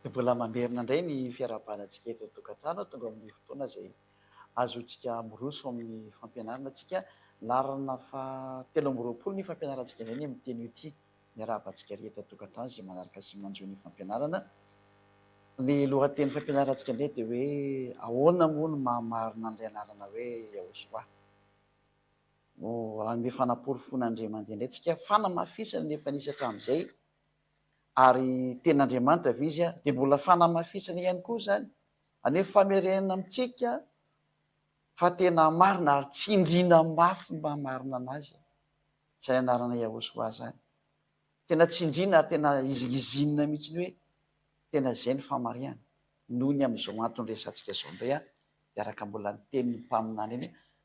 Dia mbola mamerina indray ny fiarahabalantsika eto an-tokantrano. Tonga amin'ny fotoana izay azontsika miroso amin'ny fampianarana antsika. Laharana fahatelo amby roapolo ny fampianarantsika indray ny amin'ny teny io ity. Miarahaba antsika rehetra an-tokantrano izay manaraka sy manjo ny fampianarana. Ny lohatenin'ny fampianarantsika indray dia hoe ahoana moa no maha marina an'ilay anarana hoe Yahosoà. Ho hanome fanaporofoana an'Andriamanitra indray tsika, fanamafisana ny efa nisy hatramin'izay, ary tena Andriamanitra ve Izy? Dia mbola fanamafisana ihany koa izany, hanome famerenana amintsika fa tena marina ary tsindriana mafy mba hamarina an'Azy izany anarana Yahoshua izany. Tena tsindriana ary tena izingizinina mihitsy ny hoe tena izay ny famarihana. Noho ny amin'izao antony resahantsika izao indray aho, dia araka mbola ny tenin'ny mpaminany eny,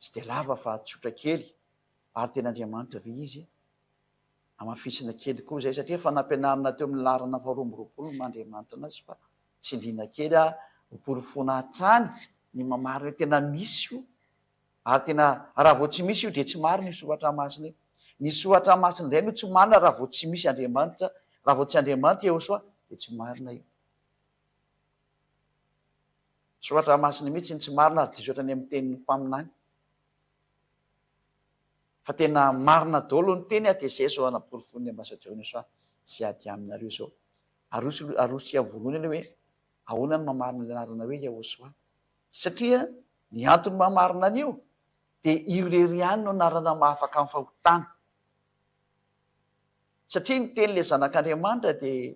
Tsy dia lava fa tsotra kely ary tena Andriamanitra ve izy e? Hamafisina kely koa izay satria efa nampianarina teo amin'ny laharana faharoa amby roapolo ny maha Andriamanitra anazy fa tsindriana kely aho ho porofoina hatrany ny maha marina hoe tena misy io ary tena raha vao tsy misy io dia tsy marina io soratra masina io. Ny soratra masina indray no tsy marina raha vao tsy misy Andriamanitra, raha vao tsy Andriamanitra Iehosoa dia tsy marina io. Soratra masina mihitsy iny tsy marina ary diso hatrany amin'ny tenin'ny mpaminany fa tena marina daholo ny teny aty ss o anaporofoin'ny ambassadeur ny soa sy ady aminareo zao arosy arosika voalohany aloha hoe ahoana ny mamarina ny anarana hoe yahosoa satria ny antony mamarina an'io dia io irery ihany no anarana mahafaka ny fahotana Satria ny teny ilay zanak'Andriamanitra dia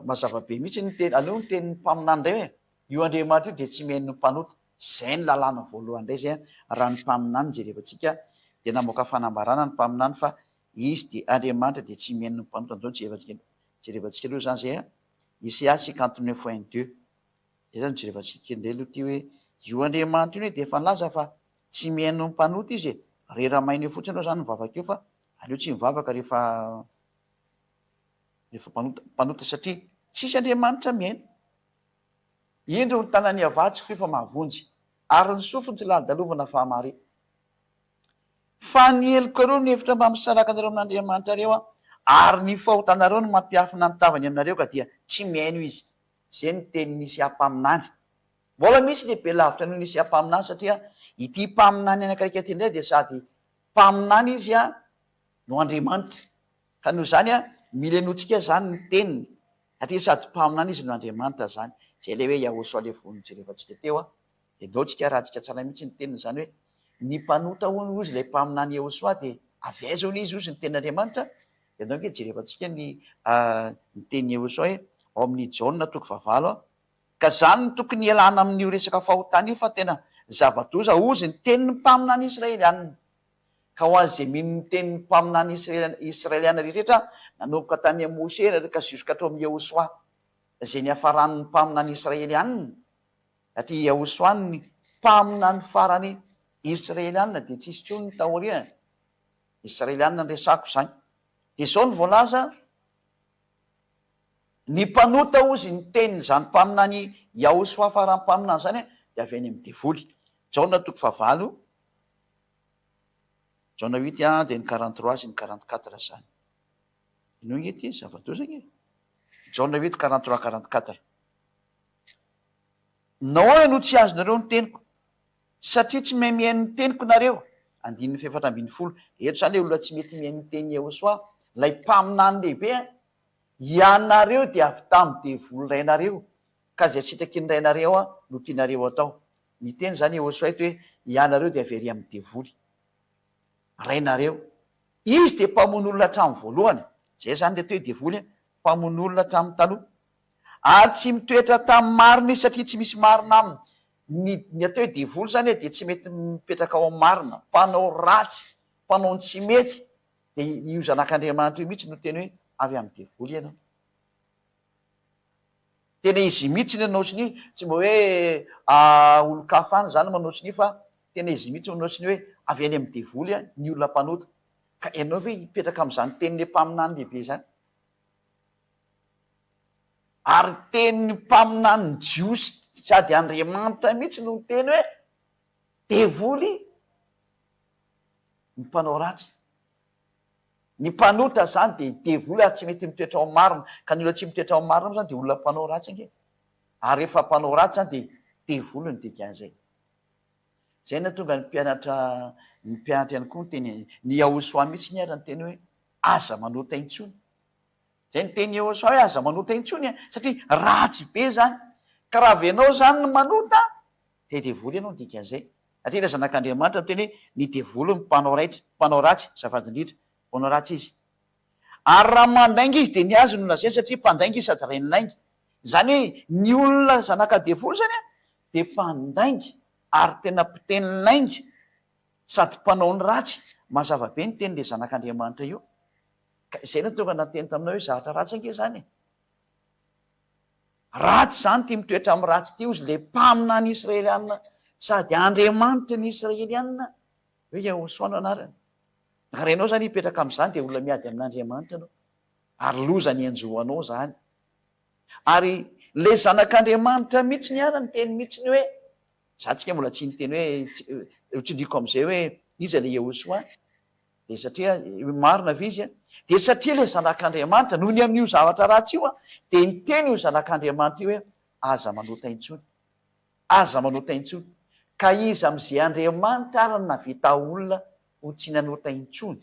mazava be mihitsy ny teny, aleo ny tenin'ny mpaminany indray hoe io Andriamanitra io dia tsy mihaino ny mpanota. Izay ny lalàna voalohany indray izay raha ny mpaminany jereva antsika dia namoaka fanambarana ny mpaminany fa izy dia Andriamanitra dia tsy mihaino ny mpanota. Amin'izao jerevantsika jerevantsika aloha izany izay Isaia cinquante neuf un deux izay izany jerevantsika indray aloha ity hoe io Andriamanitra io anie dia efa nilaza fa Tsy mihaino ny mpanota izy e! Rera maina eo fotsiny reo zany mivavaka eo fa aleo tsy mivavaka rehefa rehefa mpanota mpanota satria tsisy Andriamanitra mihaino. Indro ny tanan'i Avah tsy feo fa mahavonjy ary ny sofiny tsy lalodalovina fa mahare. Fa ny heloka reo mihevitra mba misaraka anareo amin'Andriamanitra reo a! ary ny fahotanareo no mampiafina ny tavany aminareo ka dia tsy mihaino izy. Zay ny tenin'Isia mpaminany. Mbola misy lehibe lavitra noho ny Mesia Mpaminany satria ity Mpaminany anakaiky ity indray dia sady Mpaminany izy no Andriamanitra. Ka noho izany mila henointsika izany ny teniny satria sady Mpaminany izy no Andriamanitra izany. Izay ilay hoe Yahosua ilay voa nojerevantsika teo. Henointsika, arahintsika tsara mihitsy ny teniny izany hoe ny mpanota hono hozy ilay Mpaminany Yahosua dia avy aiza hono izy hozy ny tenin'Andriamanitra? Dia andao ange jerevantsika ny tenin'i Yahosua ao amin'ny Jaona toko fahavalo. Ka zany no tokony hialana amin'io resaka fahotana io fa tena zava-doza ozy ny tenin'ny mpaminany Israelianina. Ka ho an'izay mino ny tenin'ny mpaminany Israelianina rehetra nanomboka tamin'i Amosy ery ka jusque hatramin'i Yehosoa izay niafaran'ny mpaminany Israelianina, satria i Yehosoa no ny mpaminany farany Israelianina dia tsisy intsony ny taoriany, Israelianina no resako izany. Dia izao no voalaza. Ny mpanota ozy ny tenin' izany mpaminany Iahosoa farany mpaminany izany dia avy any amin' ny devoly. Jaona toko fahavalo, Jaona huit dia ny quarante trois sy ny quarante quatre izany. Inoa ange ity zava-doza ange. Jaona huit quarante trois quarante quatre. Nahoana no tsy azonareo ny teniko? Satria tsy mahay mihaino ny teniko nareo. Andininy fahefatra ambin'ny folo. Eto zany le olona tsy mety mihaino ny tenin'i Yahoswah, lay mpaminany lehibe an! Ianareo dia avy tamin'ny devoly rainareo, ka zay sitrakin'ny rainareo an no tianareo atao. Niteny zany Yahoswah eto hoe ianareo dia avy ary amin'ny devoly rainareo. Izy dia mpamono olona hatramin'ny voalohany. Zay zany le atao hoe devoly an, mpamono olona hatramin'ny taloha. Ary tsy mitoetra tamin'ny marina izy satria tsy misy marina aminy. Ny ny atao hoe devoly zany e dia tsy mety mipetraka ao amin'ny marina, mpanao ratsy, mpanao ny tsy mety, dia io zanak'Andriamanitra io mihitsy no teny hoe avy amin'ny devoly ianao. Tena izy io mihitsy no manao sonia, tsy mba hoe olon-kafa any zany manao sonia fa tena izy io mihitsy manao sonia hoe avy any amin'ny devoly ny olona mpanota. Ka ianao ve hipetraka amin'izany tenin'ilay mpaminany lehibe izany? Ary teny ny mpaminany jiosy sady Andriamanitra mihitsy no niteny hoe, Devoly ny mpanao ratsy. Ny mpanota izany dia devoly ary tsy mety mitoetra ao marina. Ka ny olona tsy mitoetra ao marina moa izany dia olona mpanao ratsy ange. Ary rehefa mpanao ratsy izany dia devoly no dikan'izay. Izay no nahatonga ny mpianatra, ny mpianatra ihany koa niteny, ny Yahushua mihitsy ny ary niteny hoe, Aza manota intsony. Zay ny teny eo sao hoe aza manota intsony an, satria ratsy be zany. Ka raha avy enao zany no manota dia devoly enao ny dikan'izay. Satria ilay zanak'Andriamanitra no teny hoe ny devoly no mpanao raitra, mpanao ratsy, azafady indrindra, mpanao ratsy izy. Ary raha mandainga izy dia ny azy no lazaina satria mpandainga izy sady rain'ny lainga. Zany hoe ny olona zanaka devoly zany an dia mpandainga ary tena mpiteny lainga. Sady mpanao ny ratsy. Mazava be ny teny le zanak Andriamanitra io ka izay no tonga nateny taminao hoe zahatra ratsy ange zany e. Ratsy zany ty mitoetra am ratsy ty ozy le mpaminany Israelianina sady Andriamanitry ny Israelianina hoe Yahosua no anarany. Ary ianao zany hipetraka am zany de olona miady amin Andriamanitra anao ary loza ny anjo anao zany. Ary le zanak Andriamanitra mitsiny ara niteny mitsiny hoe Za tsika mbola tsy niteny hoe tsy tsy ndriko amzay hoe iza le Yehosoa de satria marina ve izy a de satria le zanak'Andriamanitra noho ny amin'io zavatra ratsy io a de niteny io zanak'Andriamanitra io hoe aza manota intsony aza manota intsony ka iza amze Andriamanitra ary naveta olona ho tsy nanota intsony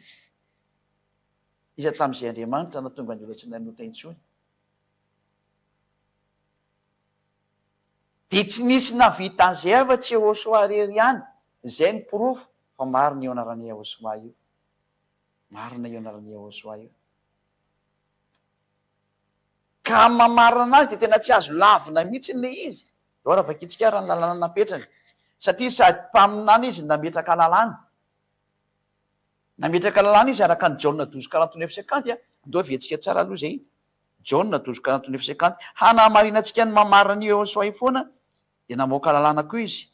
iza tamze Andriamanitra natonga ny olona tsy nanota intsony Dia tsy nisy nahavita an'izay afa-tsy Yehôsoa irery ihany. Izay no porofo fa marina io anaran'i Yehôsoa io. Marina io anaran'i Yehôsoa io. Ka amin'ny maha marina anazy dia tena tsy azo lavina mihitsy ilay izy. Izao raha vakintsika ary ny lalàna napetrany. Satria sady mpaminany izy no nametraka lalàna. Nametraka lalàna izy araka an'i Jaona dozy quarante-neuf cinquante. Andao heverentsika tsara aloha izay. Jaona, tojo kanto nefa izay kanto. Hanamarinantsika ny mamarana an'i Yehosua io foana dia namoaka lalàna koa izy.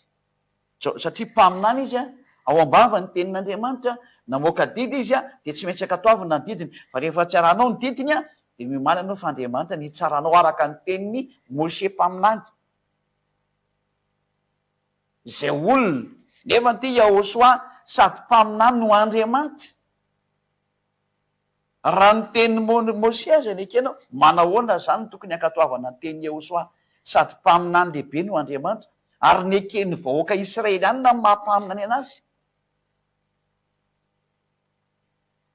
Jao, satria mpaminany izy, ao am-bavany ny tenin'Andriamanitra, namoaka didy izy dia tsy maintsy ankatoavina ny didiny. Fa rehefa tsy arahanao ny didiny dia miomaly ianao fa Andriamanitra no hitsara anao araka ny tenin'i Moshe mpaminany. Izay olona. Nefa ity Yahosua sady mpaminany no Andriamanitra. Raha ny tenin'i Môsià izay nekenao, manahoana izany no tokony hankatoavana ny tenin'i Iehôsoà? Sady mpaminany lehibe no Andriamanitra, ary neken'ny vahoaka israelianina ny maha-mpaminany an'azy.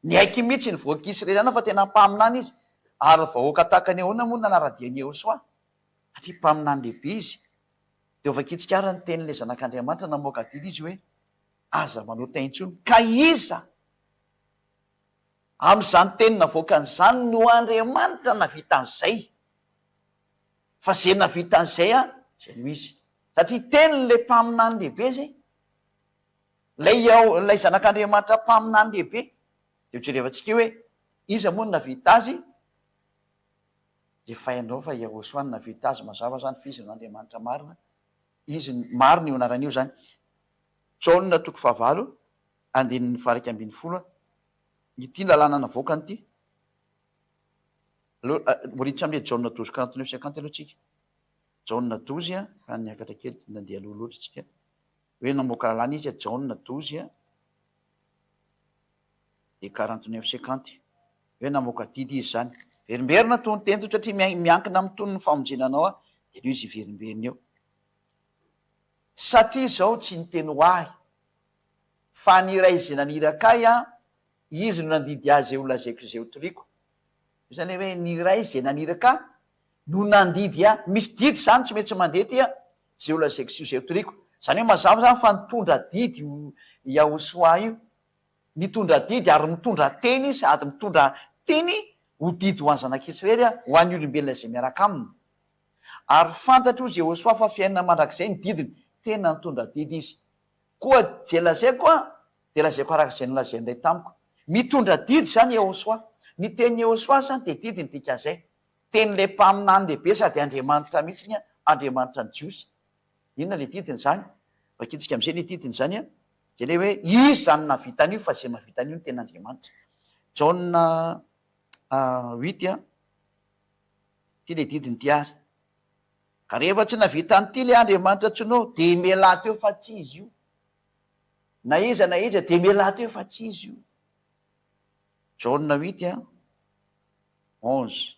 Niaiky mihitsy ny vahoaka israelianina fa tena mpaminany izy, ary vahoaka tahaka ny ahoana moa no nanara-dia an'i Iehôsoà? Satria mpaminany lehibe izy. Dia vakintsika àry ny tenin'ilay Zanak'Andriamanitra namoaka didy izy hoe, Aza manota intsony. Ka iza? Amin'izany teny navoakany izany no Andriamanitra navita an'izay. Fa izay navita an'izay an, izay no izy. Satria tenin'ilay mpaminany lehibe izay. Ilay Iao, ilay Zanak'Andriamanitra mpaminany lehibe. Dia hojerevantsika eo hoe iza moa no navita azy. Jefainao fa Iahosòa no navita azy mazava izany fa izy no Andriamanitra marina. Izy, marina io anarana io izany. Jaona toko fahavalo. Andininy valo ika ambin'ny folo a. Ity lalàna navoakany ity. Aleo riditra amin'ilay Jaona dozy quarante neuf cinquante aloha tsika. Jaona dozy a, fa niakatra kely dia nandeha aloha loatra tsika. Hoe namoaka lalàna izy a, Jaona dozy a, dia quarante neuf cinquante. Hoe namoaka didy izy izany. Verimberina toy ny tendro satria miankina amin'ny tonon' ny famonjena anao aho, dia aleo izy hiverimberina eo. Satria izao tsy niteny ho ahy Fa ny iray izay naniraka ahy an, izy no nandidy ahy izay ho lazaiko izay ho toriko. Io izany hoe ny iray izay naniraka ahy no nandidy ahy. Misy didy izany tsy maintsy mandeha aty an, izay ho lazaiko sy izay ho toriko. Izany hoe mazava izany fa nitondra didy io Yahoshua io. Nitondra didy ary mitondra teny izy sady mitondra teny ho didy ho an'ny zanak'Israely an, ho an'ny olombelona izay miaraka aminy. Ary fantatro hoy Jehoshua fa fiainana mandrakizay ny didiny. Tena nitondra didy izy. Koa ze lazaiko an, dia lazaiko araka izay nolazainy indray tamiko. Mitondra didy izany Yehosua. Ny tenin'i Yehosua izany dia didy ny dikan'izay. Tenin'ilay mpaminany lehibe sady Andriamanitra mihitsy ny Andriamanitra ny Jiosy. Inona ilay didiny izany? Vakintsika amin'izay ilay didiny izany an, dia ilay hoe, Izy izany no nahavita an'io fa izay mahavita an'io no tena Andriamanitra. Jaona huit an, ity ilay didiny ity ary. Ka rehefa tsy navita an'ity le Andriamanitra tsinao de mialà teo fa tsy izy io. Na iza na iza de mialà teo fa tsy izy io. Jaona huit a onze.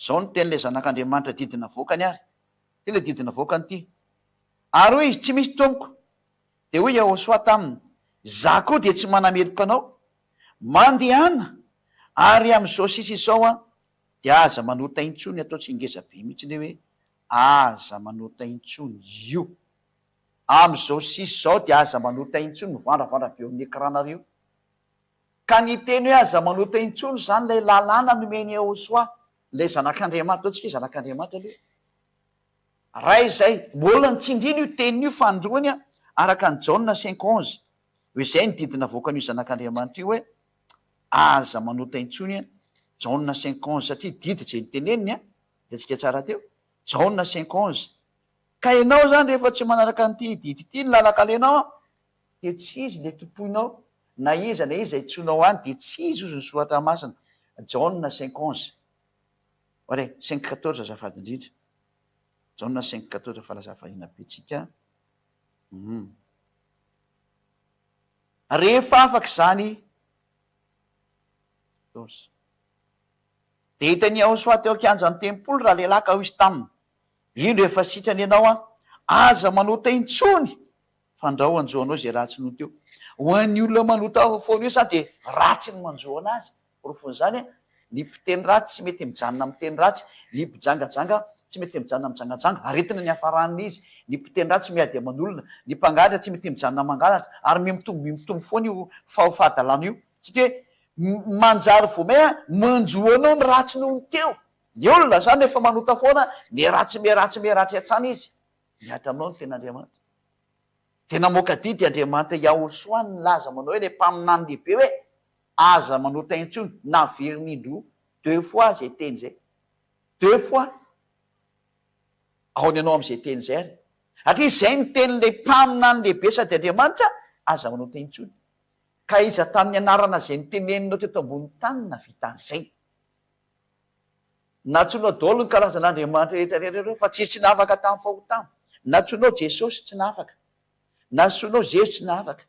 Zao no tenin'ilay zanak'Andriamanitra didy navoakany ary, ity le didy navoakany ity, Ary hoy izy, tsy misy tompoko. Dia hoy Iahôsoa taminy, Zah koa dia tsy manameloka anao. Mandehana, ary amin'izao sisa izao aho. Dia aza manota intsony ataotsy ingeza be mihitsy le hoe aza manota intsony io amizao sisy zao dia aza manota intsony mivandravandra be eo amin'ny ecran nareo ka ny teny hoe aza manota intsony zany ilay lalàna nomen'i Ehosoa ilay zanak'Andriamanitra ataontsika hoe zanak'Andriamanitra aloha ray izay mbola ny tsindrina io teniny io fanindroany araka an'i Jaona cinq onze hoe izay ny didy navoakan'io zanak'Andriamanitra io hoe Aza manota intsony an! Jaona cinq onze satria didy izay noteneniny an! Hitantsika tsara teo. Jaona cinq onze. Ka ianao izany rehefa tsy manaraka an'ity didy ity ny lalan-kalenao an! dia tsy izy ilay tompoinao, na iza na iza itsoinao any dia tsy izy hozy ny soratra masina. Jaona cinq onze. Oare cinq quatorze azafady indrindra. Jaona cinq quatorze fa lasa variana be tsika an! Hum. Rehefa afaka izany Joosy, dia hita an'i Yehosòa teo an-kianjan'ny tempoly ralehilahy ka hoy izy taminy, Indro efa sitrana ianao aho, aza manota intsony, fandrao hanjo anao izay ratsy nota eo. Ho an'ny olona manota foana eo izany dia ratsy ny manjo anazy. Porofon'izany, ny mpiteny ratsy tsy mety mijanona amin'ny teny ratsy, ny mpijangajanga tsy mety mijanona mijangajanga, aretina ny hiafaran'ny izy, ny mpiteny ratsy miady aman'olona, ny mpangalatra tsy mety mijanona mangalatra, ary mihamitombo mihamitombo foana io fahadalana io, satria hoe manjary vao main manjo anao ny ratsy noho ny teo, ny olona izany rehefa manota foana miharatsy miharatsy miharatsy hatrany izy, mihatra aminao ny ten'Andriamanitra, dia namoaka didy Andriamanitra Yahushua nilaza manao hoe ilay mpaminany lehibe hoe. Aza manota intsony na very indroa deux fois zay teny zay deux fois aona ianao amzay teny zay ary satria zay ny tenin'ilay mpaminany lehibe sady Andriamanitra aza manota intsony ka iza tamin'ny anarana zay niteneninao teto ambony tany no nahavita an'izay Nantsoinao daolo ny karazan'Andriamanitra rehetra rehetra ireo fa tsisy tsy nahavaka tamin'ny fahotana Nantsoinao Jesosy tsy nahavaka Nasoinao Zezo tsy nahavaka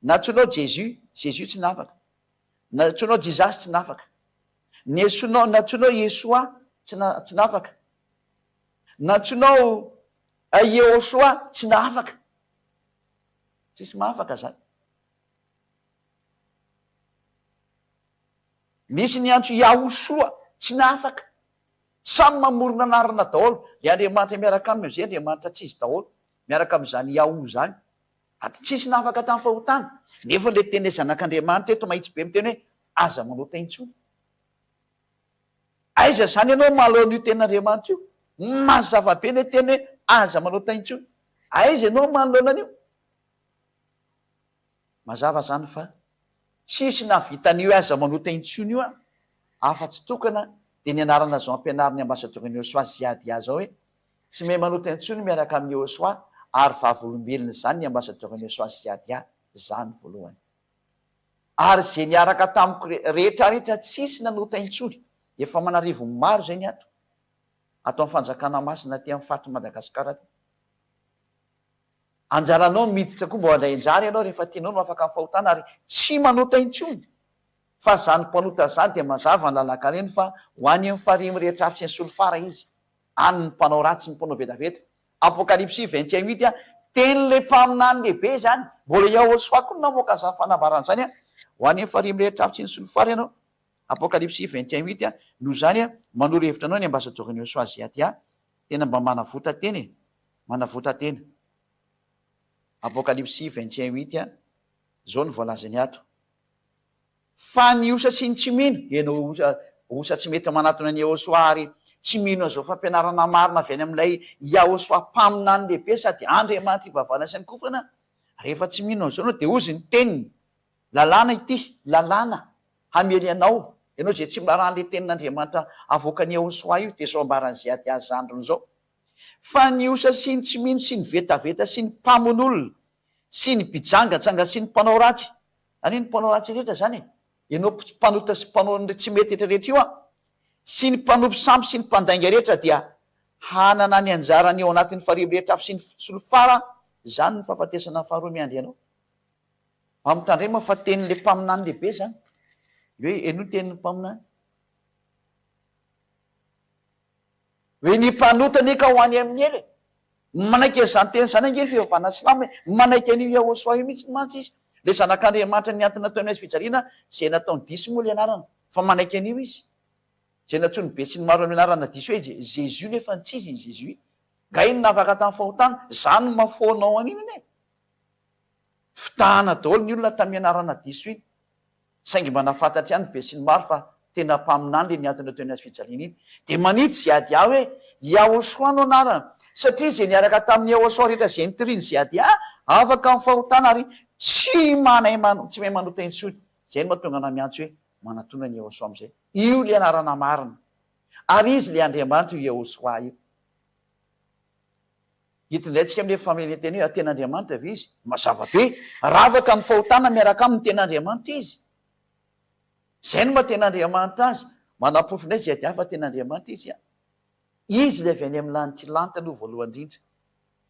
Nantsoinao Jesus, Jesus tsy nafaka. Nantsoinao Jesus tsy nafaka. Niesonao, nantsoinao Yeshua tsy na, tsy nafaka. Nantsoinao Yehoshua tsy nafaka. Tsisy mahafaka zany. Misy niantso Yahoshua tsy nafaka. Samy mamorona anarana daholo. Ilay Andriamanitra miaraka aminy amizay Andriamanitra tsy izy daholo. Miaraka amizany Yahoo zany. Ady tsy nisy nahafaka tamin'ny fahotana. Nefa ilay tenin'ilay Zanak'Andriamanitra eto mahitsy be miteny hoe, Aza manota intsony. Aiza izany ianao mahaleo an'io tenin'Andriamanitra io? Mazava be ilay teny hoe, Aza manota intsony. Aiza ianao manoloana an'io? Mazava izany fa tsy nisy nahavita an'io aza manota intsony io an, afa-tsy tokana dia ny anarana izao ampianarin'ny Ambasadaoron'i Yosua Ziad Yaza hoe, Tsy miha manota intsony miaraka amin'i Yehosua ary vavolombelona izany ny ambasadaoron'i Yehosua sy Yadia, zany voalohany. Ary izay niaraka tamiko rehetra rehetra tsisy nanota intsony, efa aman'arivony maro izay ny ato, ato amin'ny fanjakana masina aty amin'ny faritr'i Madagasikara aty. Anjaranao ny miditra koa mba handray anjara ianao rehefa tianao no afaka amin'ny fahotana ary tsy manota intsony. Fa izany mpanota izany dia mazava ny lalan-kareny fa ho any amin'ny farihy mirehitra afitsy ny solifara izy. any ny mpanao ratsy, ny mpanao vetaveta. Apokalypsy vingt et un huit, Tenin'ilay mpaminany lehibe izany. Mbola Yahoshuah koa no namoaka an'izany fanambarana izany, Ho an'ny efa reny rehetra avy tsy nisolo fary ianao. Apokalypsy vingt et un huit, Noho izany, manoro hevitra anao ny Ambasadoron'i Yahoshuah Ziadia. Tena mba manavotan-tena e! Manavotan-tena. Apokalypsy vingt et un huit, Izao no voalazany ato. Fa ny osa sy ny tsy mino, ianao osa osa tsy mety manatona an'i Yahoshuah ary tsy mino an'izao fampianarana marina avy any amin'ilay Yahoshuah Mpaminany Lehibe sady Andriamanitra ivavana sy ankofana, rehefa tsy mino an'izao ianao dia hozy ny teniny, Lalàna ity, lalàna, hamely anao, ianao izay tsy mba ràn'ilay tenin'Andriamanitra avoakan'i Yahoshuah io, dia izao ambaran'i Ziad Az-Zandrn izao, Fa ny osa sy ny tsy mino sy ny vetaveta sy ny mpamono olona sy ny mpijanganjanga sy ny mpanao ratsy, Ary ny mpanao ratsy rehetra izany e! Ianao mpanota sy mpanao an'ireo tsy mety rehetra rehetra io an! Sy ny mpanompo sampy sy ny mpandainga rehetra dia hanana ny anjarany ao anatin'ny farihy mirehitra afo sy ny solifara an! Izany no fahafatesana faharoa miandry anao. Mampitandrema fa tenin'ilay mpaminany lehibe izany. Hoe, Henoy ny tenin'ny mpaminany. Hoe ny mpanota anie ka ho any amin'ny hela e! Manaiky an'izany teny izany ange ny fivavahana silamo e! Manaiky an'io Yahoshua io mihitsy mantsy izy, ilay Zanak'Andriamanitra nihantona teo amin'ny hazofijaliana izay nataony diso moa ilay anarana, fa manaiky an'io izy, izay nantsoin'ny be sy ny maro amin'ny anarana diso hoe Jésus nefa ny tsy izy i Jésus. Nga iny navaka tamin'ny fahotana? Za no mahafoana ao an'iny anie. Fitahana daholo ny olona tamin'ny anarana diso iny, saingy mba nahafantatra ihany ny besinimaro fa tena mpaminany le niantona teo anaty fijaliana iny, dia manitsy Ziadia hoe Yahoshua no anarany, satria ze niaraka tamin'i Yahoshua rehetra ze nitorin'i Ziadia afaka amin'ny fahotana ary tsy manay tsy mahay manota intsony, zay no mahatonga anah miantso hoe manatona an'i Yahoshua amizay, io le anarana marina, ary izy le Andriamanitra io Yahoshua io. Hitondraintsika amin'io famelentena io tena Andriamanitra ve Izy? Mazava be. Ravaka amin'ny fahotana miaraka aminy tena Andriamanitra Izy. Izay no maha tena Andriamanitra Azy. Manaporofo indray JDA fa tena Andriamanitra Izy an. Izy ilay avy any amin'ny lanitra, lanitra aloha voalohany indrindra.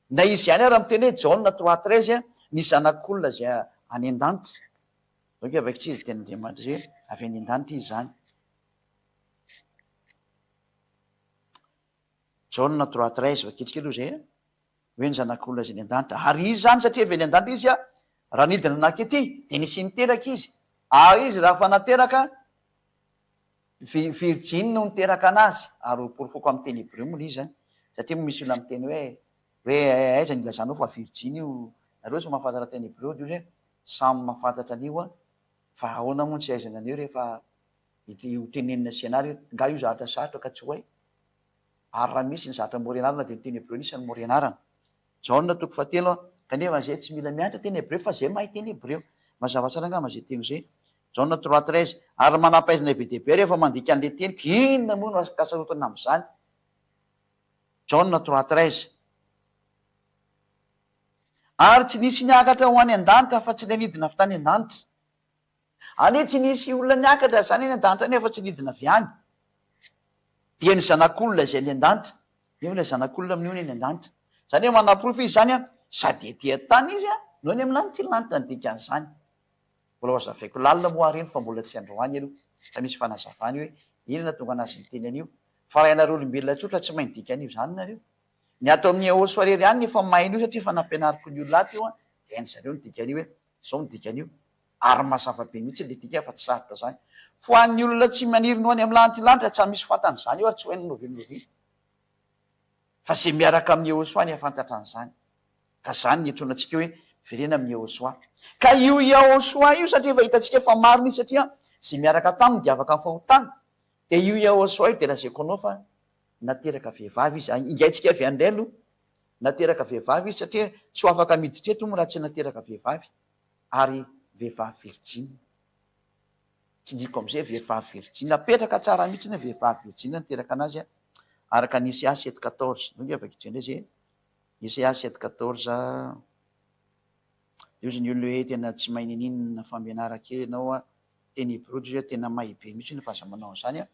Na Izy ihany ara miteny hoe Jaona trois treize an, ny Zanak'olona izay any an-danitra. Izao ange vaky tsy izy tena Andriamanitra Izy hoe avy any an-danitra Izy izany. Jaona trois treize va kely kely izay a! hoe ny zanak'olona izay niandanta, ary izy izany satria efa niandanta izy a! raha nidina nakety dia nisy niteraka izy, ary izy raha efa nateraka vi virjiny no niteraka anazy, ary ho porofoko amin'ny teny hebreo moa ilay izy izany, satria moa misy olona miteny hoe hoe eh aiza no ilazanao fa virjiny io, nareo tsy mahafantatra teny hebreo dia ozy e! samy mahafantatra an'io a! fa ahoana moa no tsy ahaizana an'io rehefa. Ity ho tenenina sy ianara io, nga io zahatra sarotra ka tsy ho hay? Ary raha misy ny zahatra mora ianarana dia ny teny hebreo anisan'ny mora ianarana. Jaona toko fahatelo a. Kanefa zay tsy mila mianatra teny hebreo fa zay mahay teny hebreo. Mazava tsara angamba zay teny zay. Jaona trois treize. Ary manam-pahaizana be dia be rehefa mandika an'ilay teniko, inona moa no ankasarotana amin'izany? Jaona trois treize. Ary tsy nisy niakatra ho any an-danitra afa-tsy ilay nidina avy tany an-danitra. Anie tsy nisy olona niakatra izany any an-danitra any afa-tsy nidina avy any. Dia ny Zanak'olona izay any an-danitra. Nefa ilay Zanak'olona minoana eny an-danitra. Izany hoe manaporofo izy izany an, sady ety an-tany izy an, no any amin'ny lanitra iny lanitra ny dikan'izany. Mbola hozavaiko lalina moa ary iny fa mbola tsy androany aloha fa misy fanazavana io hoe inona nahatonga anazy niteny an'io. Fa raha ianareo olombelona tsotra tsy mahay ny dikan'io zany nareo. Ny ato amin'ny Eôs Soirée ry any efa mahay an'io satria efa nampianariko ny olona ato io an, dia hain'izareo ny dikan'io hoe zao ny dikan'io. Ary mazava be mihitsy ilay dika fa tsy sarotra izany. Fa ho an'ny olona tsy maniry ny ho any amin'ny lanitra lanitra tsa misy fantany izany io ary tsy ho hainy novia novia. Fa izay miaraka amin'i Yehosua ny hafantatra an'izany. Ka izany ny iantsoana antsika hoe Velena amin'i Yehosua. Ka io Yahosua io satria efa hitantsika fa marina izy satria izay miaraka taminy dia afaka amin'ny fahotana. Dia io Yahosua io dia lazaiko anao fa nateraka vehivavy izy. Ingaintsika avy any indray aloha. Nateraka vehivavy izy satria tsy ho afaka miditra eto hono raha tsy nateraka vehivavy. ary vehivavy virjiny. Tsindriako amin'izay vehivavy virjiny. Napetraka tsara mihitsy hoe vehivavy virjiny no niteraka anazy araka ny Ese Aset quatorze. Indreo nge vakitsika indray izay e! Ese Aset quatorze. Dia hozy ny olona hoe tena tsy mahay niniana fa mianara kely ianao a! Teny hebreo dia izy hoe tena may be mihitsy fa aza manao an'izany a!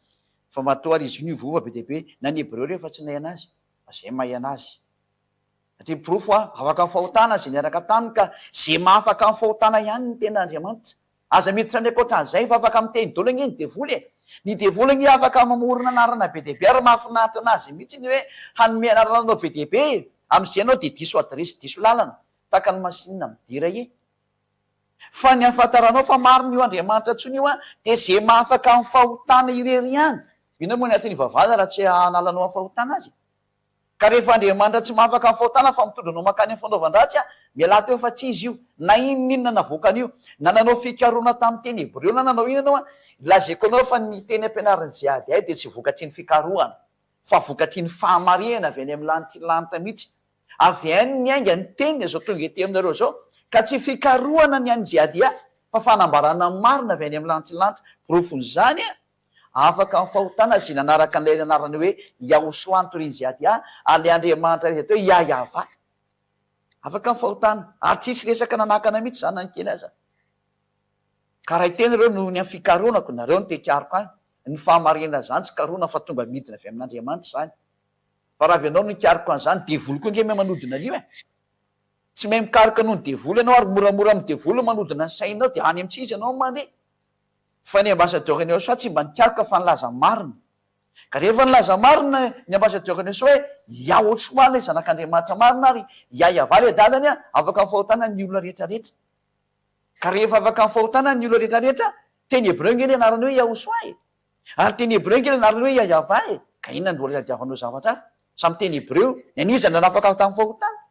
Fa matoa ary izy io niovova be dia be na ny hebreo ireo efa tsy nahay anazy fa izay mahay anazy. Ity ny porofo aho afaka amin'ny fahotana izay niaraka taminy ka izay mahafaka amin'ny fahotana ihany ny tena Andriamanitra. Aza miditra any ankoatran'izay fa afaka miteny dolo ange ny devoly e! Ny devoly ange afaka mamorona anarana be dia be ary mahafinaritra anazy mihitsy ny hoe hanome anarana anao be dia be e! Amin'izay ianao dia diso adiresy diso lalana tahaka ny masinina midera e! Fa ny ahafantaranao fa marina io Andriamanitra intsony io dia izay mahafaka amin'ny fahotana irery ihany. Inona moa ny aton'ivavahana raha tsy hanalanao amin'ny fahotana azy e? Ka rehefa Andriamanitra tsy mahafaka ny fahotana fa mitondra anao mankany amin'ny fanaovan-dratsy an, mialà teo fa tsy Izy io. Na inon'inona navoakan'io, na nanao fikarohana tamin'ny teny hebreo na nanao inona ianao an, lazaiko anao fa ny teny ampianarin'ny Jehadiah dia tsy vokatry ny fikarohana, fa vokatry ny fahamarihana avy any amin'ny lanitry ny lanitra mihitsy. Avy any ny ainga ny teniny izao tonga ety aminareo izao, ka tsy fikarohana ny an'i Jehadiah, fa fanambarana marina avy any amin'ny lanitry ny lanitra. Porofon'izany an, Afaka ny fahotana izay nanaraka an'ilay anarana hoe Yahushua Turinziadia, ary ilay Andriamanitra iray izay atao hoe Yahyahavah. Afaka ny fahotana, ary tsy hisy resaka nanakana mihitsy izany na ny kely aza. Ka ray tena ireo noho ny amin'ny fikarohanako, nareo no te-hikaroka ahy, ny fahamarinana izany tsy karohina fa tonga midina avy amin'Andriamanitra izany. Fa raha avy ianao no hikaroka an'izany, devoly koa ange mahay manodina an'io e! Tsy mahay mikaroka noho ny devoly ianao ary moramora amin'ny devoly ny manodina ny sainao dia any amintsika izy ianao no mandeha. Fa ny ambassadeur ny USA tsy mba nikaroka fa nilaza marina. Ka rehefa nilaza marina ny ambassadeur ny USA hoe Yah ohatry marina i zanak'Andriamanitra marina ary Yah Yavah le dadany a, afaka ny fahotana ny olona rehetra rehetra. Ka rehefa afaka ny fahotana ny olona rehetra rehetra, teny hebreo nge le anarany hoe Yahushua e! Ary teny hebreo nge le anarany hoe Yah Yavah e! Ka inona no mbola tadiavanao zavatra hafa? Samy teny hebreo, ny an'iza no nanafaka tamin'ny fahotana?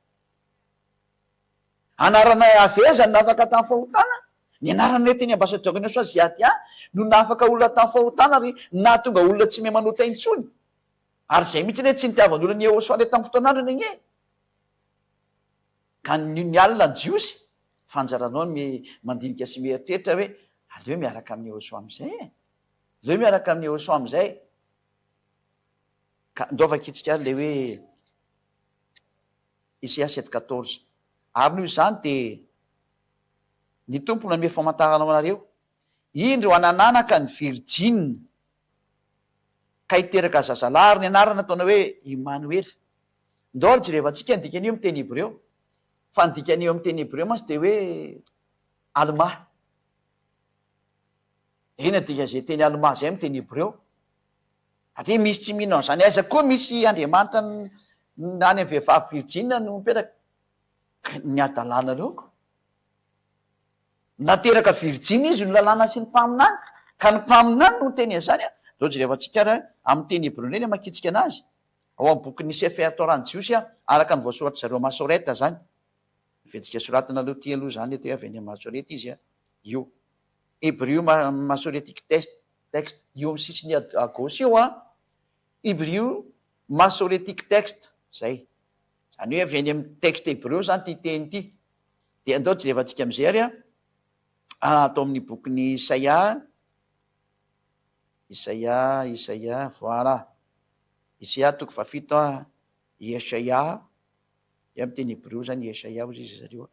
Anarana Yaveh izany nafaka tamin'ny fahotana, ny anarana nentin'ny ambasadaoro any Soisy Yahya no nafaka olona tamin'ny fahotana ary nahatonga olona tsy mahay manota intsony. Ary izay mihitsy anie tsy nitiavan'olona an'i Yehosua ilay tamin'ny fotoan'androny anie. Ka nino ny alina ny Jiosy fa anjaranao ny mandinika sy mieritreritra hoe aleo miaraka amin'i Yehosua amin'izay e! Aleo miaraka amin'i Yehosua amin'izay. Ka ndao vakintsika ary ilay hoe. Esaias sept quatorze Ary noho izany dia ny Tompo nanome famantarana ho anareo, Indro hanananaka ny virjiny ka hiteraka zazalahy ary ny anarany hataonao hoe Imanoela. Ndao ary jerevantsika ny dikan'io amin'ny teny hebreo, fa ny dikan'io amin'ny teny hebreo mantsy dia hoe Almà. Inona dikan'izay teny Almà izay amin'ny teny hebreo? Ary ve misy tsy mino an'izany? Aiza koa misy Andriamanitra any amin'ny vehivavy virjina no mipetraka? Ny hadalana ireo ko! Nateraka virjina izy ny lalàna sy ny mpaminany, ka ny mpaminany no niteny an'izany an! Izao jerevantsika ary amin'ny teny hebreo indray ny hamakiantsika anazy, ao amin'ny bokin'ny Sefer Torah ny Jiosy an, araka ny voasoratr'i zareo Masoreta izany, Ventsika soratinareo ity aloha izany, dia avy any amin'ny Masoreta izy an, io Hebrew Masoretic Text. Text, Eo amin'ny sisiny à gauche eo an, Hibriu Masoretic Text, izay. Izany hoe avy any amin'ny texte hebreo izany ity teny ity. Dia andao jerevantsika amin'izay ary an, ato amin'ny bokin'i Isaia, Isaia, Isaia, voilà, Isaia toko fahafito an, Yeshayah, dia amin'ny teny hebreo izany Yeshayah hozy izy ry zareo an.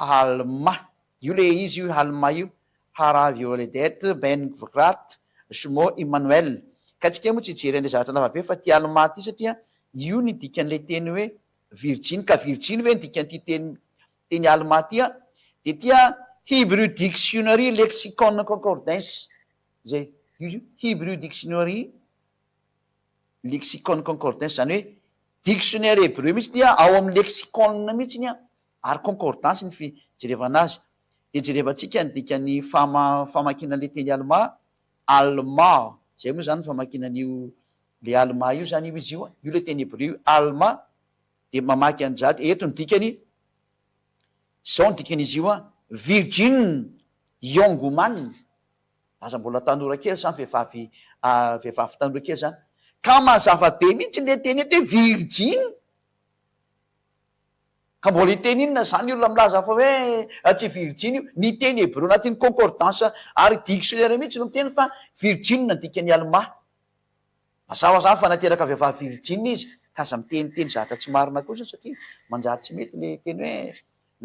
Halma, io le izy io Halma io, Hara Violedet, Ben Gvrat, Shmo Immanuel. Ka antsika moa tsy hijery an'ilay zavatra lava be fa ity Halma ity satria io ny dikan'ilay teny hoe virjiny. Ka virjiny ve ny dikan'ity teny teny Halma ity an? Dia ity an, Hebrew Dictionary Lexicon Concordance izay io io, Hebrew Dictionary Lexicon Concordance, izany hoe dictionnaire hebreu mihitsy ity an, ao amin'ny lexicon mihitsy an, Ary concordance ny fijerevana azy. Dia jerevantsika ny dikan'ny famakiana ilay teny Almà, Almah, izay moa izany no famakiana an'io ilay Almà io izany io izy io, io ilay teny hebreo io, Almà, dia mamaky an'izany, eto ny dikany, izao ny dikan'izy io, Virgin young woman, aza mbola tanora kely sa vehivavy vehivavy tanora kely izany, ka mazava be mihitsy ilay teny eto hoe virjiny, Ka mbola hiteny inona izany io olona milaza fa hoe tsy virjiny io? Ny teny hebreo anatin'ny concordance ary dictionnaire mihitsy no miteny fa virjiny no dikan'i Almà. Mazava izany fa nateraka vehivavy virjiny izy ka aza miteniteny zavatra tsy marina kosa satria manjary tsy mety ilay teny hoe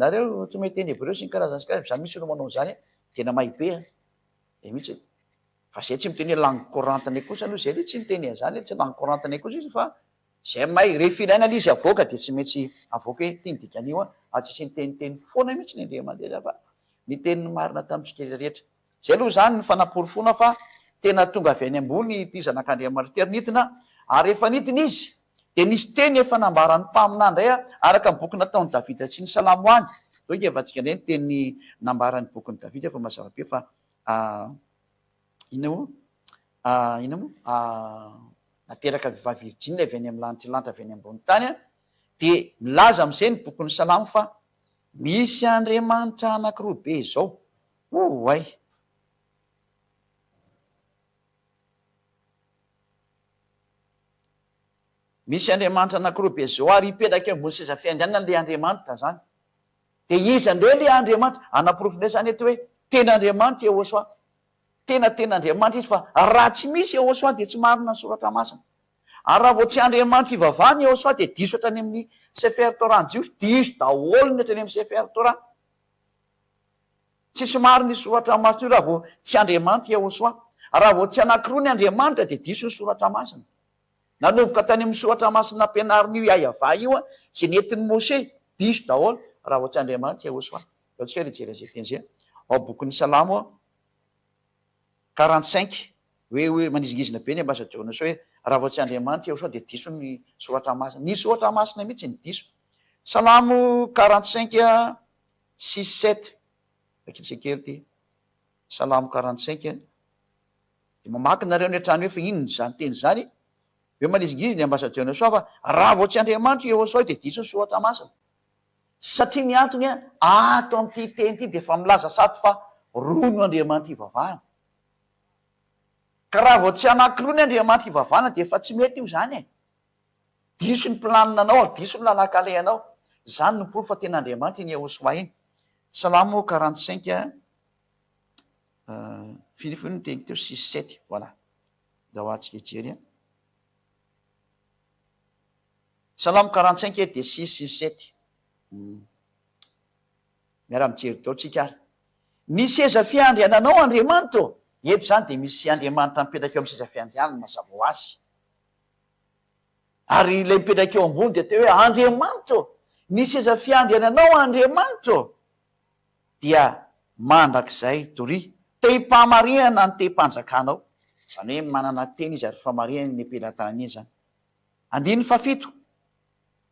nareo tsy mahay teny hebreo sy ny karazany sy ny karazany, za mihitsy no manao an'izany an! tena may be an! zay mihitsy e! fa izay tsy miteny hoe langue correntne kosa aloha izay aloha tsy miteny an'izany hoe tsy langue correntne kosa izy fa J'aime ay, rehefa ilaina le izy avoaka dia tsy maintsy avoaka hoe ty ny dikan'io an, fa tsisy niteniteny foana mihitsy ny Andriamandeja fa niteny ny marina tamintsika rehetra. Zay aloha zany ny fanaporofoana fa tena tonga avy any ambony ity zanak'Andriamanitra ity ary nidina ary rehefa nidina izy dia nisy teny efa nambaran'ny mpaminany indray araka ny boky nataon'i Davida sy ny salamo any toa ingevantsika indray ny teny nambaran'ny bokin'i Davida fa mazava be fa Inona moa? Ah, inona moa? Ah, nateraka vehivavy virjina avy any amin'ny lanitra lanitra avy any ambony tany, dia milaza amin'izay ny bokin'ny Salamo fa misy andriamanitra anankiroa be izao. Oay! Misy andriamanitra anankiroa be izao ary hipetraka eo ambony seza fiandrianana ilay andriamanitra izany. Dia iza indray ilay Andriamanitra? Hanaporofo indray izany eto hoe tena Andriamanitra Yehosua. Tena tena Andriamanitra Izy fa raha tsy misy Yehosua dia tsy marina ny Soratra Masina. Ary raha vao tsy Andriamanitra ivavahana Yehosua dia diso hatrany amin'ny Sefer Torah ny Jiosy, diso daholo ny hatrany amin'ny Sefer Torah. Tsisy marina io Soratra Masina io raha vao tsy Andriamanitra Yehosua. Raha vao tsy anankiroa ny Andriamanitra dia diso ny Soratra Masina. Nanomboka tany amin'ny soratra masina nampianarin'io Yahvah io izay nentin'i Moshe, diso daholo raha vao tsy Andriamanitra Yehosua. Ataontsika hoe nijery an'izay teny izay ao bokin'ny Salamo quarante cinq hoe hoe manizingizina be ny ambasadiorn'i Yehosua hoe raha vao tsy Andriamanitra Yehosua dia diso ny soratra masina. Ny soratra masina mihitsy no diso. Salamo quarante cinq six sept, vakintsika kely ity Salamo quarante cinq. Dia mamaky nareo any an-trano eo fa inona izany teny izany? Dia manizingizina i Ambasadiona Soa fa raha vao tsy Andriamanitra i Eosoa dia diso ny Soratra Masina. Satria ny antony ato amin'ity teny ity dia efa milaza sato fa roa no Andriamanitra ivavahana. Ka raha vao tsy anankiroa ny Andriamanitra ivavahana dia efa tsy mety io izany e! Diso ny planinanao ary diso ny lalan-kalehanao. Izany no porofo fa tena Andriamanitra iny Eosoa iny. Salamo quarante cinq Firy firy ny teny teo? Six, sept, voilà. Ndao atsika hijery an. Salamo quarante cinq eto dia six, six, sept. Miara mijery daholo tsika ary. Ny seza fiandriananao Andriamanitra ô. Eto izany dia misy Andriamanitra mipetraka eo amin'ny seza fiandrianany mazava ho azy. Ary ilay mipetraka eo ambony dia teo hoe Andriamanitra ô. Ny seza fiandriananao Andriamanitra ô. dia mandrakizay doria. Tehim-pahamarihana ny tehim-panjakanao, izany hoe manana tena izy ary famarihany ny am-pelatanany iny izany. Andininy fahafito,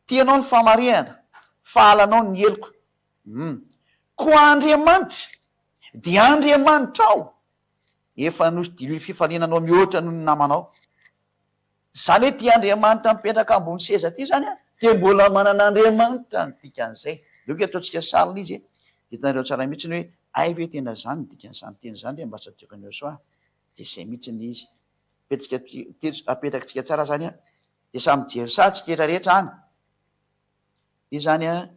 Tianao ny famarihana, fa halanao ny heloka. Umm. Koa Andriamanitra dia Andriamanitrao, efa nosidiloin'ny fifaninanao mihoatra noho ny namanao. Izany hoe ity Andriamanitra mipetraka ambony seza ity izany an, dia mbola manana Andriamanitra ny dikan'izay. Aleoko eto ataontsika sarina izy dia hitanareo tsara mihitsy hoe hay ve tena izany ny dikan'izany teny izany re mba tsy adihoko an'i Yosua an, dia izay mihitsy ny izy. Apetsika teto, apetakitsika tsara izany an, dia samy mijery saha tsika etra rehetra any. Iza izany an,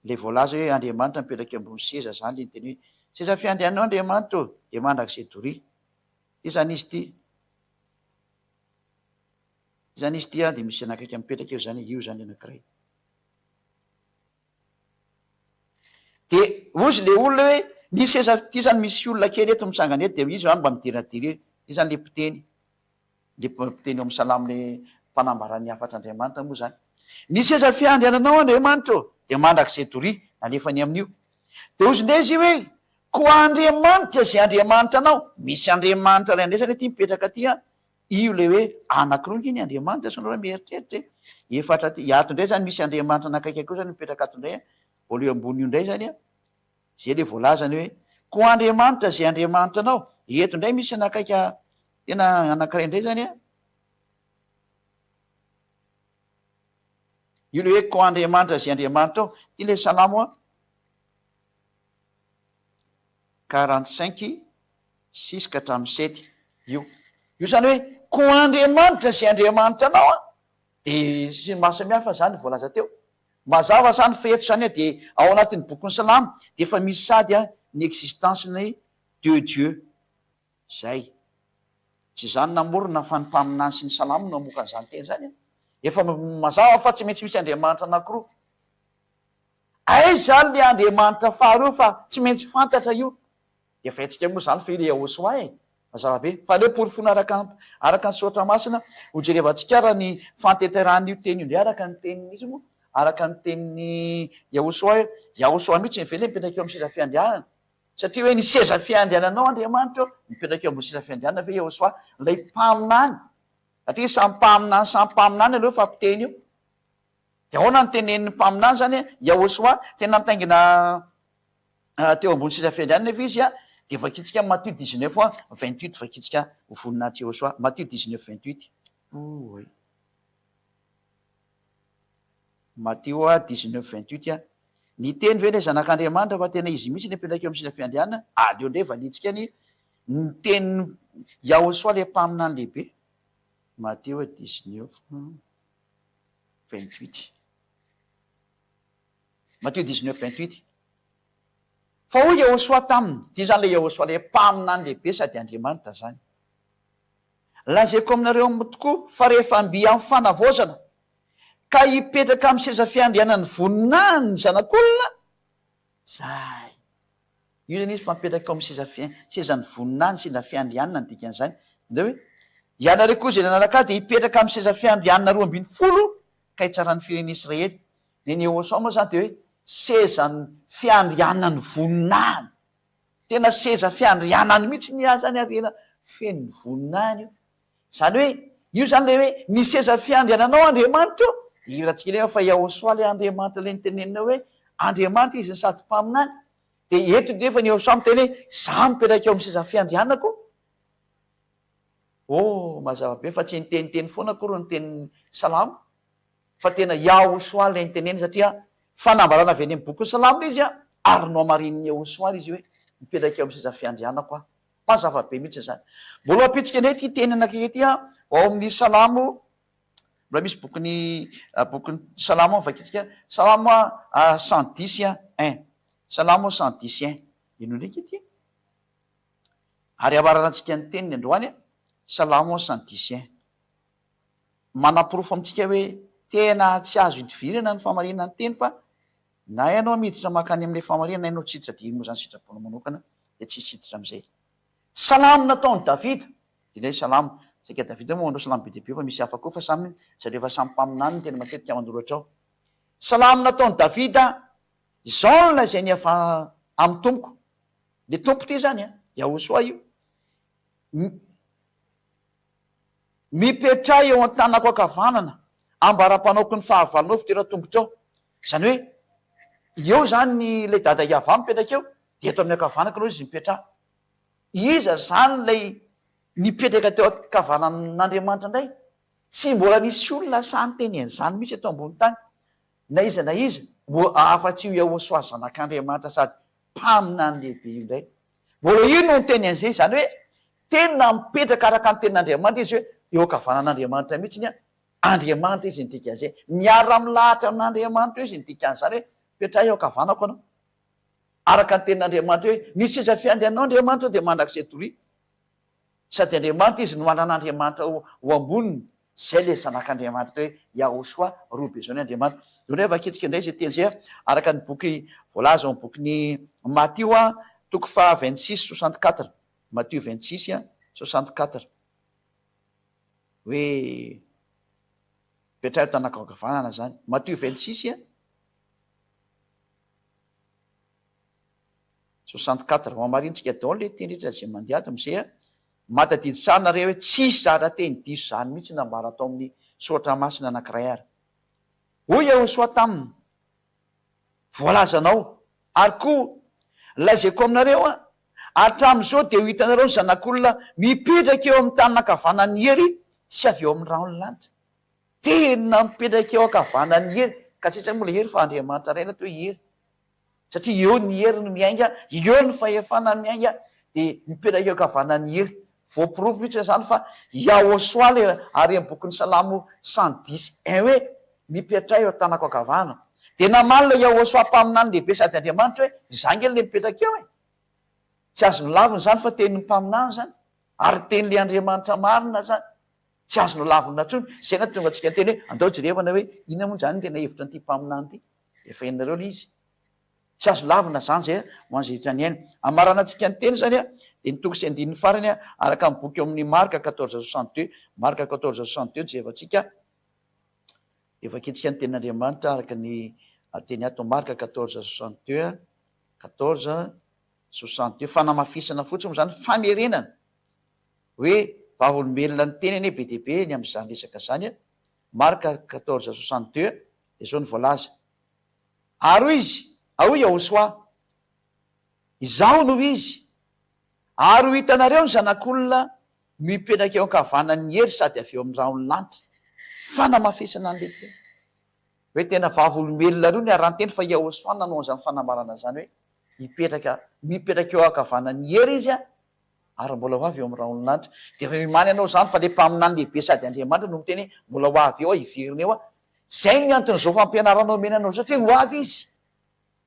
ilay voalaza hoe Andriamanitra mipetraka eo ambony seza izany ilay niteny hoe seza fiandriananao Andriamanitra ô, dia mandrakizay doria. Ity izany izy ity. Izany izy ity dia misy anakaiky mipetraka eo izany, io izany anankiray. Dia hozy ilay olona hoe ny seza ity izany misy olona kely eto misangana eto, dia izy izany mba midiradira eo, izy izany ilay mpiteny, ilay mpiteny ao amin'ny salamo ilay mpanambara ny hafatr' Andriamanitra moa izany. Ny seza fiandriananao Andriamanitra ô, dia mandrakizay doria, alefa any amin'io. Dia hozy indray izy io hoe, Koa Andriamanitra izay Andriamanitra anao, misy Andriamanitra iray andraisana ity mipetraka aty an, io ilay hoe anaky roa nge ny Andriamanitra, sao nareo mieritreritra e, efatra aty, ato indray zany misy Andriamanitra anakaiky akoa zany mipetraka ato indray an, ao le ambony io indray zany an, zay le voalazany hoe, koa Andriamanitra izay Andriamanitra anao, eto indray misy anakaiky an, tena anakiray indray zany an, io le hoe koa Andriamanitra izay Andriamanitra ao, ty le salamo an, Quarante cinq six ka hatramin'ny sept io. Io izany hoe koa Andriamanitra sy Andriamanitra anao an, dia sy ny mahasamihafa izany voalaza teo. Mazava izany fa eto izany an dia ao anatin'ny bokin'ny Salamo dia efa misy sady an ny existence-ny deux dieux izay. Tsy izany namorona fa ny mpaminany sy ny Salamo no hamoaka an'izany teny izany an. Efa mazava fa tsy maintsy misy Andriamanitra anankiroa. Aiza ary le Andriamanitra faharoa fa tsy maintsy fantatra io? Dia fihetsika moa izany firy Yehosua e! Mazava be. Fa aleo porofoina araka araka ny soratra masina ho jerevantsika ary ny fahatenterahan'io teny io indray araka ny tenin'ny iza moa? araka ny tenin'i Yehosua hoe Yahosua mitsy ve le mipetraka eo amin'ny seza fiandrianana? satria hoe ny seza fiandriananao Andriamanitra ô! mipetraka eo ambony seza fiandrianana ve Yehosua ilay mpaminany? satria samy mpaminany samy mpaminany aloha fa mpiteny io. Dia ahoana no tenenin'ny mpaminany izany hoe Yahoshuah? Tena mitaingina teo ambony seza fihary ihany anefa izy. Dia vakintsika amin'ny Matio dix neuf vingt huit, vakintsika ho voninahitry Yahoshuah. Matio dix neuf vingt huit. Oay. Matio dix neuf vingt huit. Niteny ve ilay Zanak'Andriamanitra fa tena izy mihitsy no hipetraka eo amin'ny seza fiandrianana? Aleo indray valintsika ny ny tenin'i Yahoshuah ilay mpaminany lehibe. Matio dix neuf. vingt huit. Matthieu dix neuf vingt huit. Fa hoy Iehôsoa taminy, dia izany ilay Iehôsoa ilay mpaminany lehibe sady Andriamanitra izany, Lazaiko aminareo aminy tokoa, fa rehefa mby amin'ny fanavaozana, ka hipetraka amin'ny seza fiandrianan'ny voninahiny ny Zanak'olona, izay. Io izany izy fa mipetraka eo amin'ny sezan'ny voninahiny, seza fiandrianana ny dikan'izany. Indray hoe, Ianareo koa izay nanaraka ahy dia hipetraka amin'ny seza fiandrianana roa ambin'ny folo ka hitsara ny firenena Israely. Ny Neosao moa izany dia hoe sezan'ny fiandrianan'ny voninahiny. Tena seza fiandrianany mihitsy ny ahy izany ary tena feno ny voninahiny io. Izany hoe, io izany ilay hoe ny seza fiandriananao Andriamanitra io. Dia heveratsika indray fa Iahosoa ilay Andriamanitra ilay nitenenina hoe Andriamanitra izy no sady Mpaminany. Dia eto nefa ny Yehosà miteny hoe, Izaho mipetraka eo amin'ny seza fiandrianako. Oh, mazava be fa tsy niteniteny foana akory ny tenin'ny Salamo, fa tena Yahushua ilay niteneniny, satria fanambarana avy any amin'ny bokin'ny Salamo ilay izy, ary nohamarinin'i Yahushua ary izy hoe, Mipetraka eo amin'ny seza fiandrianako Aho. Mazava be mihitsy izany. Mbola hampitsikana ity teny anankiray ity aho, ao amin'ny Salamo Mbola misy bokin'ny bokin'ny Salamo vakintsika, Salamo cent dix un, Salamo cent dix un, eny ho ndraiky ity ary hamarana antsika ny teniny androany, Salamo cent dix un. Manaporofo amintsika hoe tena tsy azo idivirana ny famarinana ny teny fa na ianao miditra mankany amin'ilay famarinana na ianao tsy hiditra dia moa izany sitraponao manokana dia tsy hisy hiditra amin'izay. Salamo nataon'i Davida, Dinay salamo, saika Davida moa manao salamo be dia be fa misy hafa koa fa samy zareo efa samy mpaminany no tena matetika manoratra ao. Salamo nataon'i Davida, Zaona izay nihafa amin'ny Tompoko, le Tompo ity izany an, Yahosoa io, mi, mipetraha eo an-tanako ankavanana, ambaram-panaoko ny fahavalonao fidera tongotrao, izany hoe eo izany ilay Dada Yahavah mipetraka eo dia eto amin'ny ankavanako ianao izy mipetraha. Iza izany ilay nipetraka teo an-kavanan'Andriamanitra indray? Tsy mbola nisy olona sahy niteny an'izany mihitsy eto ambony tany, na iza na iza, afa-tsy io Yahoshuah Zanak'Andriamanitra sady Mpaminany Lehibe io indray. Mbola io no niteny an'izay, izany hoe tena mipetraka araka ny tenin'Andriamanitra izy hoe eo an-kavanan'Andriamanitra mihitsy ny Andriamanitra izy ny dikan'izay. Miara-milahatra amin'Andriamanitra eo izy ny dikan'izany hoe, Petraho eo an-kavanako ianao. Araka ny tenin'Andriamanitra hoe, Ny seza fiandry anao Andriamanitra dia mandrakizay doria. Sady Andriamanitra izy no manana Andriamanitra ho amboniny. Izay ilay Zanak'Andriamanitra atao hoe Yahoshua, roa be izao ny Andriamanitra. Dia hoy ny hoe vakitsika indray izay teny izay, araka ny boky voalaza ao amin'ny bokin'i Matio, toko faha vingt six soixante quatre, Matio vingt six soixante quatre, hoe petraho tanakoankavanana izany. Matio vingt six. 64 hohamarinintsika daholo le teny rehetra zay mandeha ato mse a! Mahatadidy tsara nareo hoe tsisy zara teny diso zany mihitsy nambara tao amin'ny soratra masina anakiray ary hoy Iehosoa taminy voalazanao ary koa lazaiko aminareo a! hatramin'izao dia ho hitanareo ny zanak'olona mipetraka eo amin'ny tanana ankavanan'ny hery sy avy eo amin'ny rahon'ny lanitra Tena mipetraka eo ankavanan'i Hery ka tsy haintsika moa ilay Hery fa Andriamanitra iray ilay atao hoe Hery satria eo ny Hery no miainga, eo ny fahefana miainga dia mipetraka eo ankavanan'i Hery. Voaporofo mihitsy izany fa Yahoshuah ilay haren'ny bokin'ny Salamo cent dix un hoe Mipetraha eo an-tanako ankavana. Dia namaly ilay Yahoshuah Mpaminany lehibe sady Andriamanitra hoe Izaho ange ilay mipetraka eo e! Tsy azo nolavina izany fa tenin'ny Mpaminany izany ary tenin'ilay Andriamanitra marina izany. Tsy azo nolavina intsony izay nahatonga antsika hiteny hoe andao jerevana hoe inona moa izany ny tena hevitra an'ity mpaminany ity. Efa henonareo ilay izy. Tsy azo lavina izany izay ho an'izay rehetra niaina. Hamaranantsika ny teny izany dia ny toko sy andininy farany araka ny boky ao amin'ny Marc quatorze soixante deux, Marc quatorze soixante deux, jerevantsika dia vakintsika ny tenin'Andriamanitra araka ny teny ato Marc quatorze soixante deux, quatorze soixante deux, fanamafisana fotsiny moa izany, famerenana. hoe vavolombelona niteny anie be dia be ny amin'izany resaka izany a! Marc quatorze soixante deux a! dia izao no voalaza, Ary hoy izy, Aoy Yahosoa, Izaho no izy, ary ho hitanareo ny Zanak'olona mipetraka eo an-kavanan'ny hery sady avy eo amin'ny rahon'ny lanitra. Fanamafisana an'ilay teny hoe tena vavolombelona roa niara-niteny fa Yahosoa no nanao an'izany fanambarana izany hoe hipetraka, mipetraka eo an-kavanan'ny hery izy a! Ary mbola ho avy eo amin'ny rahon'lanitra. Dia efa mimaly anao izany fa ilay Mpaminany lehibe sady Andriamanitra no miteny hoe mbola ho avy eo aho hiverina eo aho. Izay ny anton'izao fampianarana omena anao izao, tsy hoe ho avy Izy.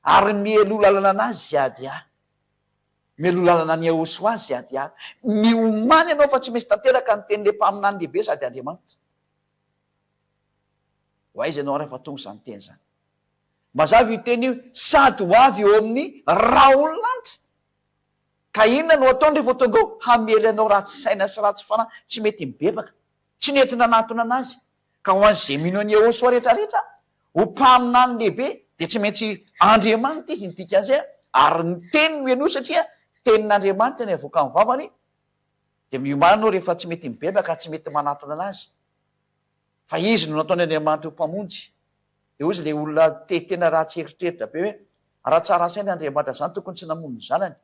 Ary mialoha lalana an'Azy Yahdiah. Mialoha lalana an'i Yahoshuah sy Yahdiah. Miomany ianao fa tsy maintsy tanteraka ny tenin'ilay Mpaminany lehibe sady Andriamanitra. Ho aiza ianao rehefa tonga izany teny izany? Mazava io teny io, sady ho avy eo amin'ny rahon'lanitra. Ka inona no ataony revo tonga eo hamely anao ratsy saina sy ratsy fanahy tsy mety mibebaka tsy nety nanatona anazy ka ho any ze mino any Ehosoa retra retra ho mpaminany lehibe de tsy maintsy Andriamanitra izy ny dikanze ary ny teny no eno satria tenin'Andriamanitra ny avoka ny vavany de miomana anao refa tsy mety mibebaka tsy mety manatona anazy Fa izy no nataon' Andriamanitra ho Mpamonjy. Dia hoy izy ilay olona te tena ratsy eritreritra be hoe, Raha tsara saina Andriamanitra izany tokony tsy namono ny zanany.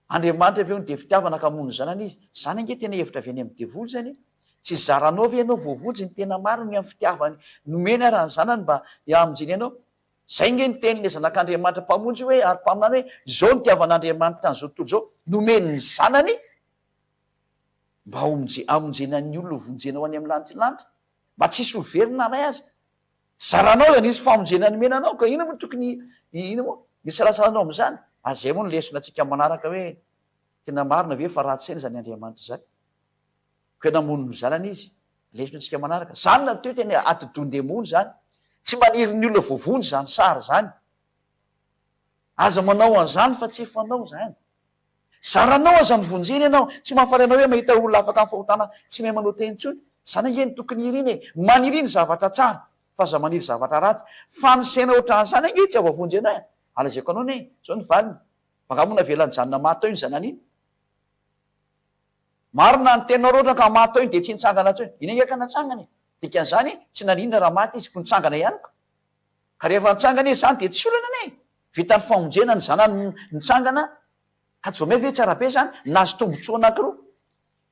Andriamanitra ve hono dia fitiavana ka hamono ny zanany Izy? Izany ange tena hevitra avy any amin'ny devoly izany e! Tsy zaranao ve ianao voavonjy ny tena marina amin'ny fitiavany nomeny ara ny zanany mba hihamonjeny anao? Izay ange ny tenin'ilay Zanak' Andriamanitra Mpamonjy hoe ary Mpaminany hoe, Izao no itiavan' Andriamanitra an'izao tontolo izao, nomeny ny zanany mba hamonjena ny olona ho vonjena ho any amin'ny lantilanty, mba tsy hisy ho very na iray aza. Zaranao izany hisy famonjena nomena anao ka inona moa tokony inona moa ny isalasalanao amin'izany? Ary izay moa no lesona antsika manaraka hoe tena marina ve fa ratsy saina izany Andriamanitra izany? Koa namono ny Zanany Izy. Lesona antsika manaraka. Izany no atao hoe tena atidohan-demony izany. Tsy maniry ny olona voavonjy izany sary izany. Aza manao an'izany fa tsy fanao izany. Zaranao aza mivonjena ianao, tsy mahafaly anao ve mahita olona afaka amin'ny fahotana tsy mahay manao teny intsony? Izany ange no tokony irina e! Maniry ny zavatra tsara fa aza maniry zavatra ratsy fa ny saina ohatran'izany ange tsy havoavonjy anao e! Alazaiko anao anie izao ny valiny fa angaha moa navela nijanona maty tao iny zanany iny? Marina ny teninao raha ohatra ka maty tao iny dia tsy nitsangana intsony? Iny ange ka natsangana e! Dikan'izany tsy naninona raha maty izy koa nitsangana ihany koa! Ka rehefa nitsangana izy zany dia tsy olana anie e! Vita ny famonjena ny zanany nitsangana ka Jomey ve tsara be zany nahazo tombotsoa anankiroa,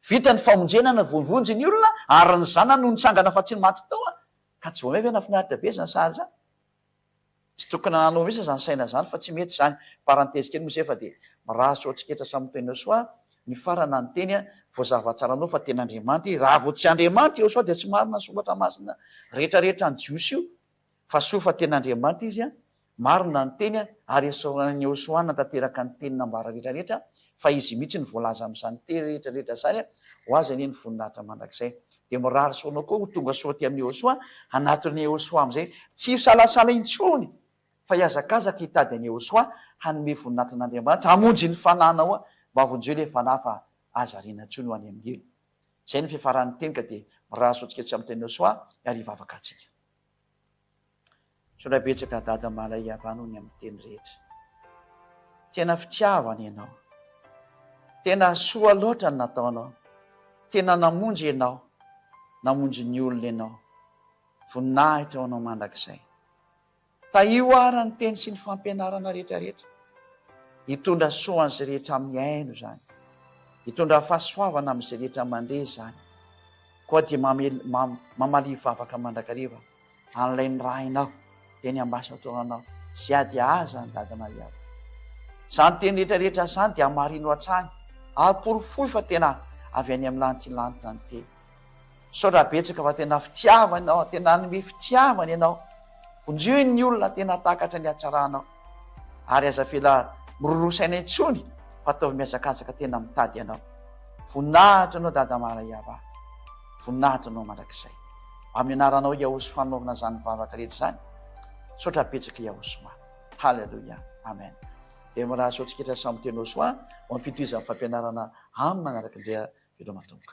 vita ny famonjena ny vonivonjy ny olona ary ny zanany no nitsangana fa tsy maty tao ka Jomey ve nafinaritra be zany sary zany? Tsy tokony hananao mihitsy zany saina zany fa tsy mety zany, parenthèse kely moa zay fa dia mirary soa tsiketra samy mitohy nosoa Nifarana ny teny an! Vao zava tsara anao fa tena Andriamanitra izy. Raha vao tsy Andriamanitra Iehosoa dia tsy marina ny soratra masina rehetra rehetra an'i Jiosy io. Fa soa fa tena Andriamanitra izy an! Marina ny teny an! Ary esorin'i Iehosoa hanatanteraka ny teny nambara rehetra rehetra an! Fa izy mihitsy no voalaza amin'izany teny rehetra rehetra izany an! Ho azy anie ny voninahitra mandrakizay. Dia mirary soa anao koa ho tonga soa aty amin'i Iehosoa an! Hanatona Iehosoa amin'izay tsy hisalasala intsony! fa hihazakazaka hitady an'i Yehosoa hanome voninahitra an'Andriamanitra, hamonjy ny fananao, mba vonjeo ilay fanahy fa aza ariana intsony ho any amin'ny helo. Izay no fiafaran'ny teny ka dia mirary soa antsika tsy amin'ny tenin'i Yehosoa ary hivavaka antsika. Sola betsaka Dada Malay Yavah noho ny amin'ny teny rehetra. Tena fitiavana ianao. Tena soa loatra ny nataonao. Tena namonjy ianao, namonjy ny olona ianao. Voninahitra ho anao mandrakizay. Tahio ara ny teny sy ny fampianarana rehetra rehetra. Hitondra soa an'izay rehetra amin'ny aino izany. Hitondra fahasoavana amin'izay rehetra mandre izany. Koa dia mamaliy vavaka mandrakariva an'ilay nirahinao teny Ambasatoranao sy ady aza an'i Dada Maria o. Izany teny rehetra rehetra izany dia hamarino hatrany ary porofoy fa tena avy any amin'ny lantilantina ny teny. Misaotra betsaka fa tena fitiavana ianao, tena hanome fitiavana ianao. Vonjeo ny olona tena hahatakatra ny hatsaranao ary aza avela miroro saina intsony fa ataovy mihazakazaka tena mitady anao. Voninahitra anao Dada Marayava. Voninahitra anao mandrakizay. Amin'ny anaranao Yahoshua hanaovana izany vavaka rehetra izany. Misaotra betsaka Yahoshua. Haleloia. Amen. Dia mirary soa tsiketra samy miteny Yahoshua ho amin'ny fitohizan'ny fampianarana aminy manaraka indray aho. Veloma Tompo.